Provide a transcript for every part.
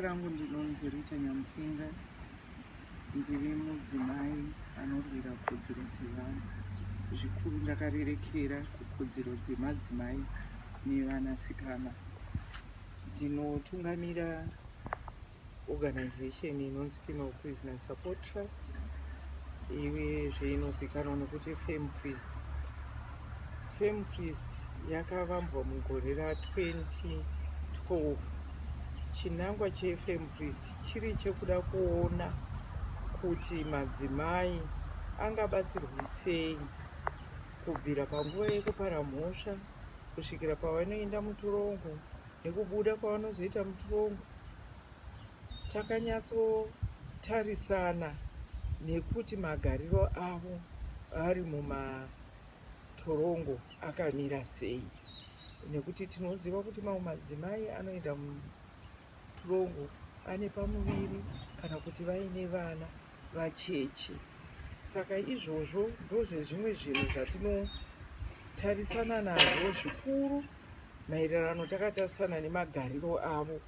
rangu ndinonzi Rita Nyamupinga ndiri mudzimai anorwira kodzero dzevanhu zvikuru ndakarerekera kukodzero dzemadzimai nevanasikana ndinotungamira organization inonzi Female Prisoner Support Trust iwe zveinozikanwa nokuti Fem Priest. Fem Priest yakavambwa mugore ra 2012. Chinangwa cheFem Priest chiri chekuda kuona kuti madzimai angabatsirwi sei kubvira panguva yekupara mhosva kusvikira pavanoenda muturongo nekubuda kwavanozoita muturongo Takanyatsotarisana nekuti magariro avo vari mumatorongo akamira sei nekuti tinoziva kuti mamwe madzimai anoenda mutorongo ane pamuviri kana kuti vaine vana vacheche. Saka izvozvo ndozvezvimwe zvinhu zvatinotarisana nazvo zvikuru. maererano takatarisana nemagariro avo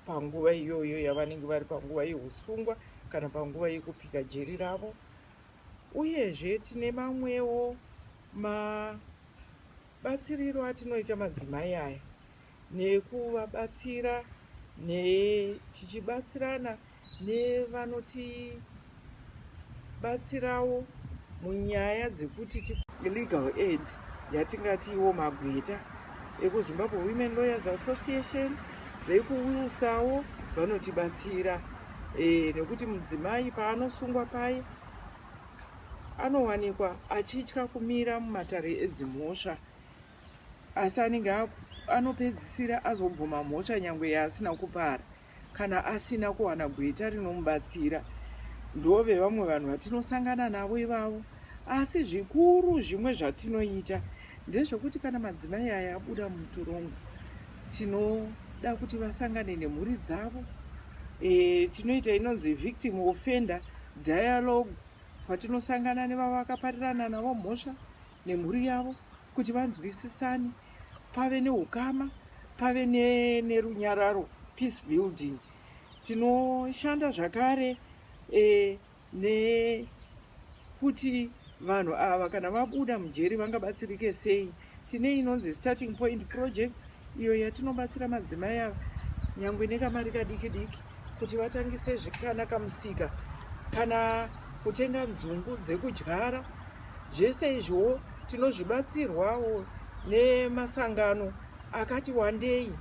panguva iyoyo yavanenge vari panguva yeusungwa kana panguva yekupika jeri ravo uyezve tine mamwewo mabatsiriro atinoita madzimai aya nekuvabatsira ne tichibatsirana nevanotibatsirawo munyaya dzekuti ti legal aid yatingatiwo magweta ekuzimbabwe women lawyers association vekuwilsawo vanotibatsira e, nekuti mudzimai paanosungwa paye anowanikwa achitya kumira mumatare edzimhosva asi anenge anopedzisira azobvuma mhosva nyange yaasina kupara Kana asina kuwana gweta rinomubatsira, ndove vamwe vanhu vatinosangana navo ivavo. Asi zvikuru zvimwe zvatinoita ndezvekuti kana madzimai aya abuda mutorongo, tinoda kuti vasangane nemhuri dzavo. E, tinoita inonzi victim offender dialogue, kwatinosangana nevavakaparirana navo mhosva. nemhuri yavo kuti vanzwisisane pave neukama pave nerunyararo peace building tinoshanda zvakare e, nekuti vanhu ava kana vabuda mujeri vangabatsirike sei tine inonzi starting point project iyo yatinobatsira madzimai ava nyangwe nekamari kadiki diki kuti vatangise zvekana kamusika kana kutenga nzungu dzekudyara zvese izvowo tinozvibatsirwawo nemasangano akati wandei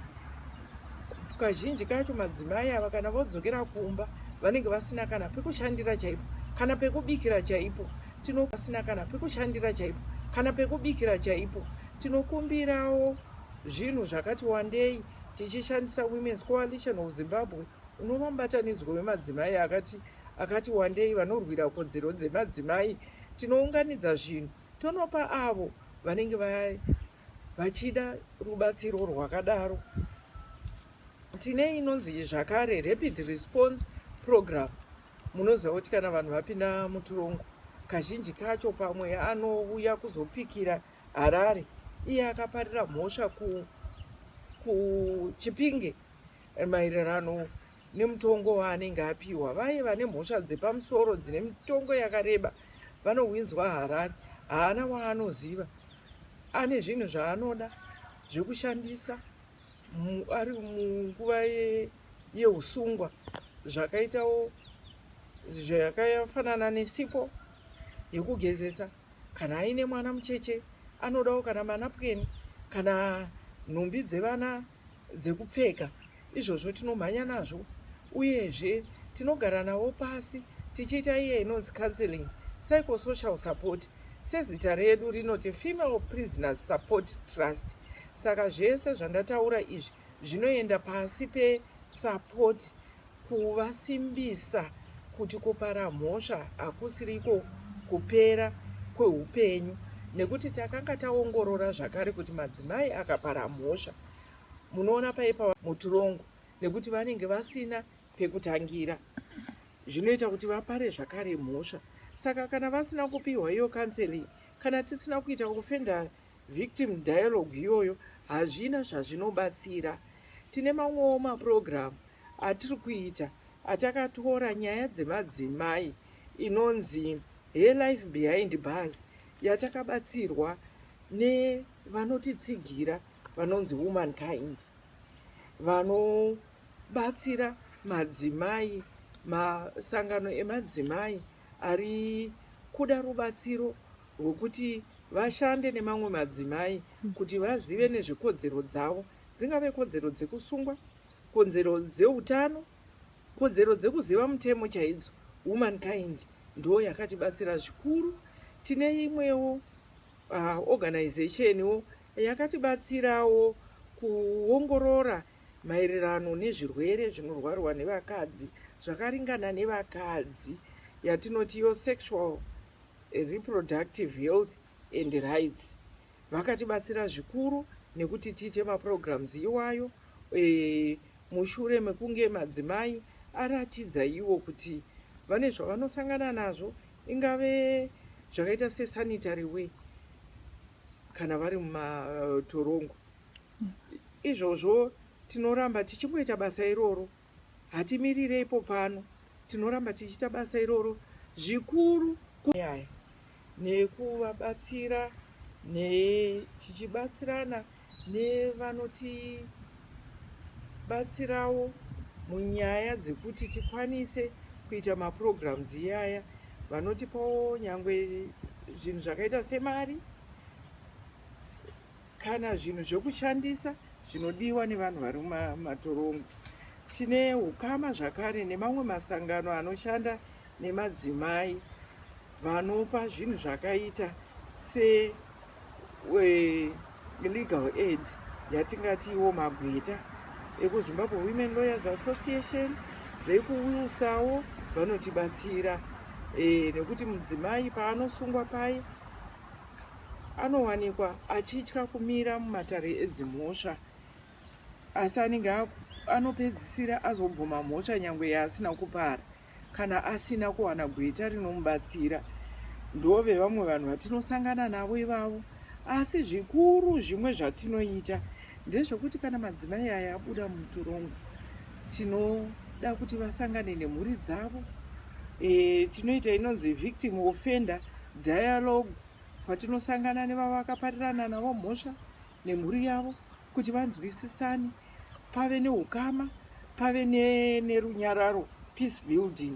kazhinji kacho madzimai ava kana vodzokera kumba vanenge vasina kana pekushandira chaipo kana pekubikira chaipo tinobasina kana pekushandira chaipo kana pekubikira chaipo tinokumbirawo zvinhu zvakati wandei Tichishandisa Women's Coalition of Zimbabwe, unova mubatanidzwa wemadzimai akati akati wandei vanorwira kodzero dzemadzimai, tinounganidza zvinhu tonopa avo vanenge va, vachida rubatsiro rwakadaro. Tine inonzi zvakare Rapid Response Program. Munoziva kuti kana vanhu vapinda mutirongo, kazhinji kacho pamwe anouya kuzopikira Harare, iye akaparira mhosva ku ku Chipinge maererano nemutongo waanenge apiwa. Vaye vane mhosva dzepamusoro dzine mitongo yakareba vanohwinzwa Harare. Haana waanoziva. Ane zvinhu zvaanoda zvekushandisa mu, ari munguva ye, yeusungwa zvakaitawo zvakafanana nesipo yekugezesa. Kana aine mwana mucheche anodawo kana manapukeni kana nhumbi dzevana dzekupfeka. Izvozvo tinomhanya nazvo uyezve tinogara navo pasi tichiita iye inonzi counselling, psychosocial support. Sezita redu rinoti Female Prisoners Support Trust saka zvese zvandataura izvi zvinoenda pasi pe support kuvasimbisa kuti kupara mhosva hakusiriko kupera kwehupenyu nekuti takanga taongorora zvakare kuti madzimai akapara mhosva munoona paipa mutirongo nekuti vanenge vasina pekutangira zvinoita kuti vapare zvakare mhosva saka kana vasina kupihwa iyo counseling kana tisina kuita kufenda Victim dialogue iyoyo hazvina zvazvinobatsira. Tine mamwewo maprogram atiri kuita atakatora nyaya dzemadzimai inonzi Her Life Behind Bars yatakabatsirwa nevanotitsigira vanonzi Womankind vanobatsira madzimai, masangano emadzimai ari kuda rubatsiro hwekuti vashande nemamwe madzimai kuti vazive nezvekodzero dzavo dzingave kodzero dzekusungwa, konzero dzeutano, kodzero dzekuziva mutemo chaidzo. Womankind ndoo yakatibatsira zvikuru. Tine imwewo uh, organization wo yakatibatsirawo kuongorora maererano nezvirwere zvinorwarwa nevakadzi zvakaringana nevakadzi yatinoti yo sexual reproductive health and rights vakatibatsira zvikuru nekuti tiite maprograms iwayo e, mushure mekunge madzimai aratidza iwo kuti vane zvavanosangana nazvo ingave zvakaita sesanitary way kana vari mumatorongo izvozvo tinoramba tichingoita basa iroro Hatimirire ipo pano, tinoramba tichiita basa iroro zvikuru kunyaya nekuvabatsira ne tichibatsirana nevanotibatsirawo munyaya dzekuti tikwanise kuita maprograms iyaya vanotipawo nyangwe zvinhu zvakaita semari Kana zvinhu zvekushandisa zvinodiwa nevanhu vari mumatorongo. Tine hukama zvakare nemamwe masangano anoshanda nemadzimai vanopa zvinhu zvakaita se legal aid yatingati iwo magweta ekuzimbabwe women lawyers association vekuwilsawo vanotibatsira e, nekuti mudzimai paanosungwa paye anowanikwa achitya kumira mumatare edzimhosva asi anenge anopedzisira azobvuma mhosva nyangwe yaasina kupara kana asina kuwana gweta rinomubatsira ndove vamwe vanhu vatinosangana navo ivavo asi zvikuru zvimwe zvatinoita Ndezvekuti kana madzimai aya abuda mutorongo tinoda kuti vasangane nemhuri dzavo e, tinoita inonzi victim offender dialogue kwatinosangana nevavakaparirana navo mhosva nemhuri yavo kuti vanzwisisane pave neukama pave nerunyararo peace building